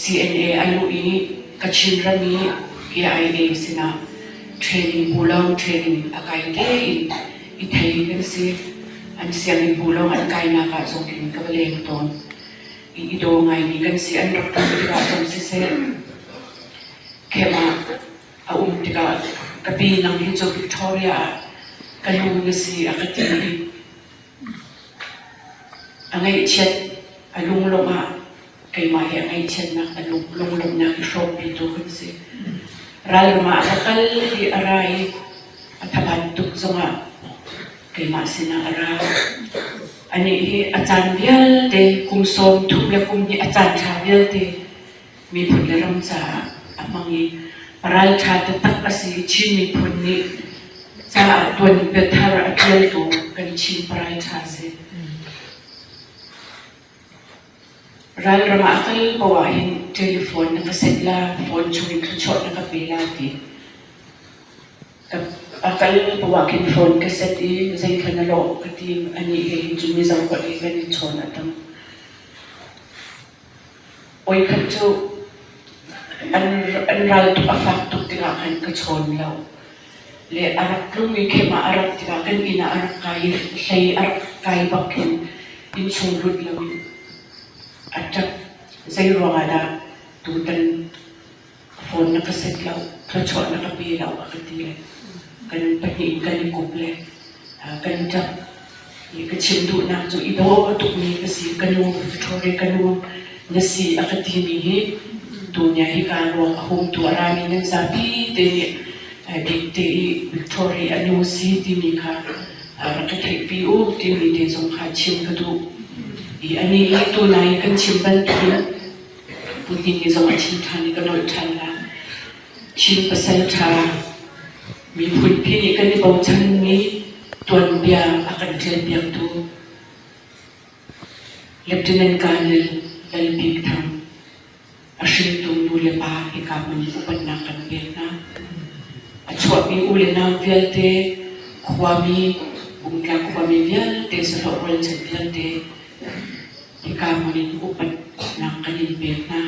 CNA a luh i Kachin ram i KIA sinah training bu lawng training a kai tein i thei kan si. An sianginn bu lawng an kainak ah zong in ka va leng tawn. I, i daw ngaimi kan si an rak ṭum tikah cun siseh, khem ah a um tikah ka pi nang hi cu Victoria ah ka lu na si a ka ti i A ngeihchiat, a lunglawmh ah keimah he a ngeihchiatnak a lunglawmhnak hi hrawmpitu kan si. Ralram ah a kal i a ra i a thaban tuk zongah keimah sinah a ra. Anih hi a caan vialte kum sawm thum le kum hnih a caan ṭha vialte miphun le ram caah a hmang i ralṭha taktak a si Chin miphun nih caah tuan biathar a ṭial ko kan Chin parai ṭha si. Ralram ah kal po ah hin telephone na ka set la, phone chung in thuchuah na ka pe la ti. A kal po ah khin phone ka set i zeikhan a lawh ka tim ani he hin cun mi zarkot he kan i chawn a tang. Voikhat cu an ral a fak tuk tikah khan ka chawn lo. Le a rak tlungmi khem ah a rak tikah kan inn ah a rak kai i hlei a rak kai bak in innsung lut loin a ṭap. Zei ruangah dah tutan phone na ka set lo, thluachuah na ka pe lo a ka ti le kan pahnih in kan i kup le kan ṭap i ka chim duhnak cu i bawm a tukmi ka si ka nu Victoria ka nu na si a ka timi hi tunian hi kaa ruang a hum tuah rami nan zapi te nih dikte i Victoria a nu si timi kha rak ka theihpi u timi te zong kha chim ka duh i anih hi tuna i kan chim bantukin Hiti ni zong a chim ṭhan i ka nolh ṭhan la. Chin pasalṭha miphun khi nih kan i bochan i tuanbia a kan ṭialpiaktu Lieutenant Colonel Lalbik Thang a hringtu nu le pa hika hmun in upatnak kan pek hna. A chuahmi u le nau vialte, khuami, Bungtla khuami vialte, sahlawh rualchan vialte, hika hmun in upatnak an in pek hna.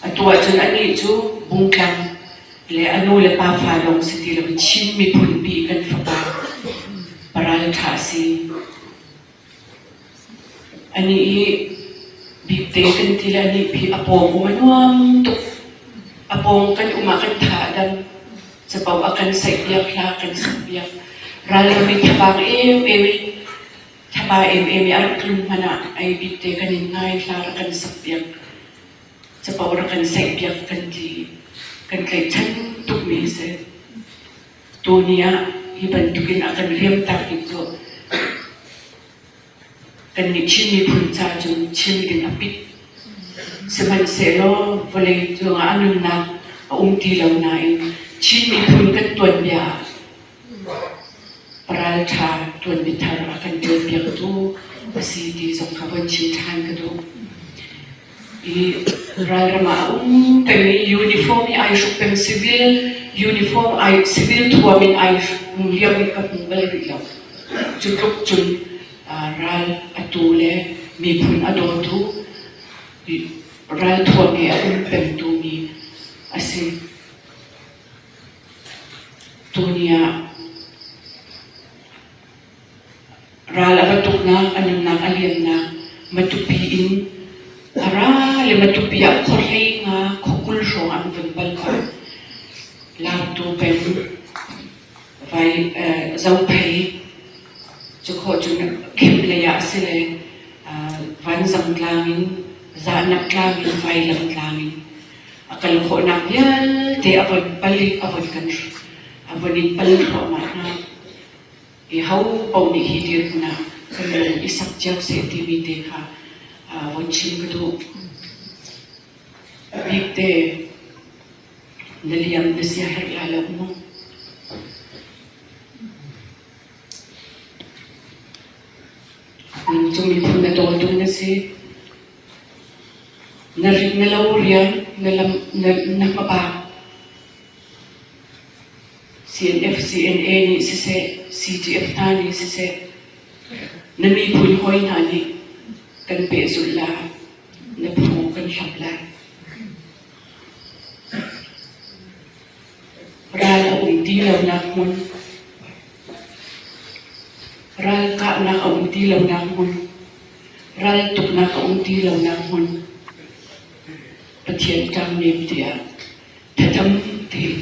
Atu ahcun anih cu bungtlang le a nu le pa fa lawng si ti loin Chin miphun pi kan fapa paral ṭha si. Anih hi bikte kan ti le anih phi a pawng um a nuam tuk. A pawng kan um ah kan tha a dam. Capo a kan saih piak, hla kan sak piak. Ral ram in thabang em em in Thlapa emem i a rak tlun hmanh ah ei bik te kan in ngai, hla rak kan sakpiak, capo rak kan saihpiak kan ti i kan tlaihchan tukmi a si. Tuni ah hi bantukin a kan riamtak bik cu kannih Chin miphun ca cun Chin ding a pit. Sihmanhsehlaw vawlei cungah a nunnak a um ti lo nain Chin miphun kan tuanbia ah Ralṭha ṭuanmi thar a kan ṭialpiaktu a si ti zong kha von chim ṭhan ka duh. I ralram ah a um pengmi uniform hi ai hruk peng civil, uniform ai civil thuam in ai um lio hi ka hmu bal rih lo. Cu tluk cun ah, ral a tu le miphun a dawtu, i ralthuam he a um pengtumi a si. Tuni ah ral a va tuknak, a nunnak a liannak Matupi in a ra le Matupi ah khuahrenga khuakul hrawng an vun pal kha laktu peng vai eh, Zophei cu khaw cun khem lei ah a si le uh, vanzang tlang in zahnak tlang in vailam tlang in a kal khawhnak vialte a von pal i a von kan a von in pal thluahmah hna. I ho paoh nih hi dirhmun ah kan lung i sak cio seh timi te kha von chim ka duh. Bik te na liam na sia herh lai lo mu. Nung cung in thun na dawtu na si. Na lo riam na hmabang CNF, CNA nih siseh, CGF hna nih siseh, na miphun hoi hna nih kan pehzulh lai, na phu kan hlap lai. Ral a ui ti lonak hmun. Ral kahnak a um ti lonak hmun. Ral tuknak a um ti lonak hmun. Pathian ṭang nem tiah thatam thing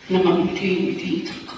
namam thing ti cang ko.